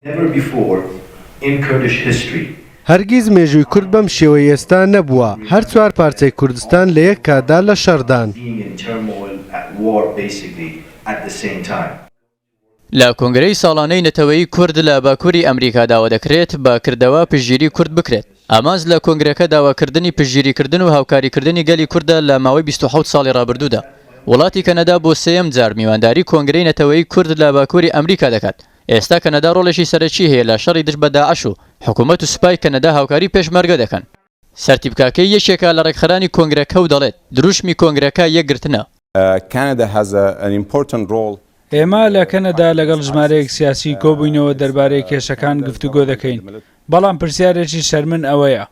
Never before in Kurdish history. هەرگیز مێژووی کورد بەم شێوەی ئێستا نەبووە، هەر چوار پارچەی کوردستان لە یەک کاتدا لە شەڕدان. being in turmoil at war basically at the same time. لە کۆنگرەی ساڵانەی نەتەوەی کورد لە باکووری ئەمریکا داوا دەکرێت بە کردەوە پشتگیری کورد بکرێت. ئامانج لە کۆنگرەکە داواکردنی پشتگیریکردن و هاوکاریکردنی گەلی کوردە لە ماوەی بیست و حەوت ساڵی ڕابردوودا. وڵاتی کەنەدا بۆ سێیەم جار میوانداری کۆنگرەی نەتەوەیی کورد لە باکووری ئەمریکا دەکات. ئێستا کەنەدا ڕۆڵێکی سەرەکی هەیە لە شەڕی دژ بە داعش و حکوومەت و سوپای کەنەدا هاوکاری پێشمەرگە دەکەن. سەرتیپ کاکەیی یەکێکە لە ڕێکخەرانی کۆنگرەکە و دەڵێت، دروشمی کۆنگرەکە یەکگرتنە. Canada has an important role ئێمە لە کەنەدا لەگەڵ ژمارەیەک سیاسیی کۆبووینەوە دەربارەی کێشەکان گفتوگۆ دەکەین، بەڵام پرسیارێکی شەرمن ئەوەیە،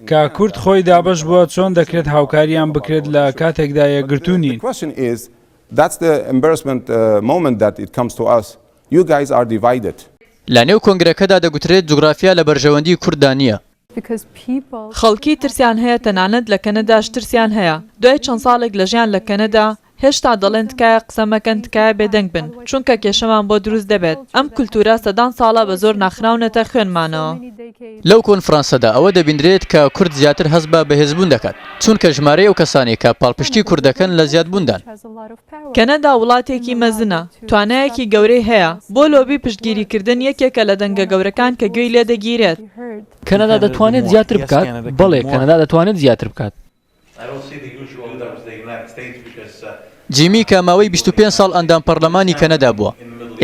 کە کورد خۆی دابەش بووە، چۆن دەکرێت هاوکارییان بکرێت لە کاتێکدا یەکگرتوو نین؟ لەنێو کۆنگرەکەدا دەگوترێت جوگرافیا لە بەرژەوەندیی کورددا نییە. خەڵکی ترسیان هەیە تەنانەت لە کەنەداش ترسیان هەیە دوای چەند ساڵێک لە ژیان لە کەنەدا هێشتا دەڵێن تکایە قسە مەکەن تکایە بێدەنگ بن چونکە کێشەمان بۆ دروست دەبێت ئەم کولتورە سەدان ساڵە بە زۆر ناخراونەتە خوێنمانەوە. لەو کۆنفرانسەدا ئەوە دەبینرێت کە کورد زیاتر هەست بە بەهێزبوون دەکات چونکە ژمارەی ئەو کەسانەی کە پاڵپشتی کورد دەکەن لە زیادبووندان. کەنەدا وڵاتێکی مەزنە توانایەکی گەورەی هەیە بۆ لۆبی پشتگیریکردن یەکێکە لە دەنگە گەورەکان کە گوێی لێدەگیرێت. کەنەدا دەتوانێت زیاتر بکات؟ بەڵێ، کەنەدا دەتوانێت زیاتر بکات. جیمی کە ماوەی بیست و پێنج ساڵ ئەندام پەڕلەمانی کەنەدا بووە،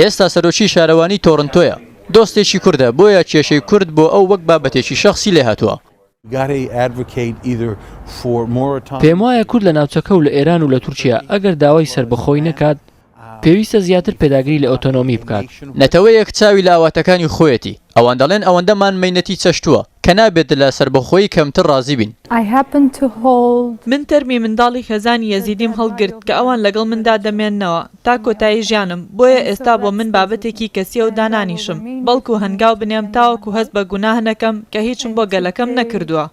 ئێستا سەرۆکی شارەوانی تۆرنتۆیە، دۆستێکی کوردە، بۆیە کێشەی کورد بۆ ئەو وەک بابەتێکی شەخسی لێهاتووە. پێموایە کورد لە ناوچەکە و لە ئێران و لە تورکیا ئەگەر داوای سەربەخۆیی نەکات، پێویستە زیاتر پێداگری لە ئۆتۆنۆمی بکات. نەتەوەیەک چاوی لە ئاواتەکانی خۆیەتی، ئەوان دەڵێن ئەوەندەمان مەینەتی چەشتووە، کە نابێت لە سەربەخۆیی کەمتر ڕازی بین. من تەرمی منداڵی خێزانی یەزیدیم هەڵگرت کە ئەوان لەگەڵ مندا دەمێننەوە تا کۆتایی ژیانم، بۆیە ئێستا بۆ من بابەتێکی کەسییە و دانانیشم، بەڵکو هەنگاو بنێم تاوەکو هەست بە گوناه نەکەم کە هیچم بۆ گەلەکەم نەکردووە.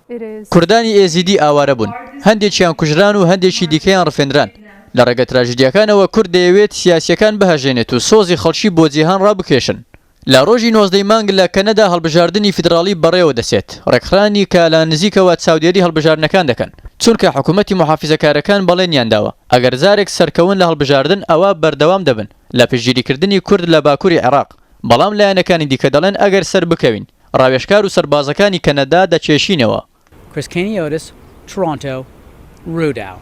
کوردانی ئێزیدی ئاوارە بوون، هەندێکیان کوژران و هەندێکی دیکەیان ڕفێندران، لە ڕێگە تراژیدیاکانەوە کورد دەیەوێت سیاسییەکان بهەژێنێت و سۆزی خەڵکی بۆ جیهان ڕابکێشن. لە ڕۆژی نۆزدە ی مانگ لە کەنەدا هەڵبژاردنی فیدراڵی بەڕێوە دەچێت، ڕێکخرانی کە لە نزیکەوە چاودێری هەڵبژاردنەکان دەکەن، چونکە حکومەتی موحافیزەکارەکان بەڵێنیان داوە ئەگەر جارێک سەرکەون لە هەڵبژاردن ئەوا بەردەوام دەبن لە پشتگیریکردنی کورد لە باکوری عێراق، بەڵام لایەنەکانی دیکە دەڵێن ئەگەر سەربکەوین ڕاوێژکار و سەربازەکانی کەنەدا دەکێشینەوە. Chris Keniotis Toronto Roudao.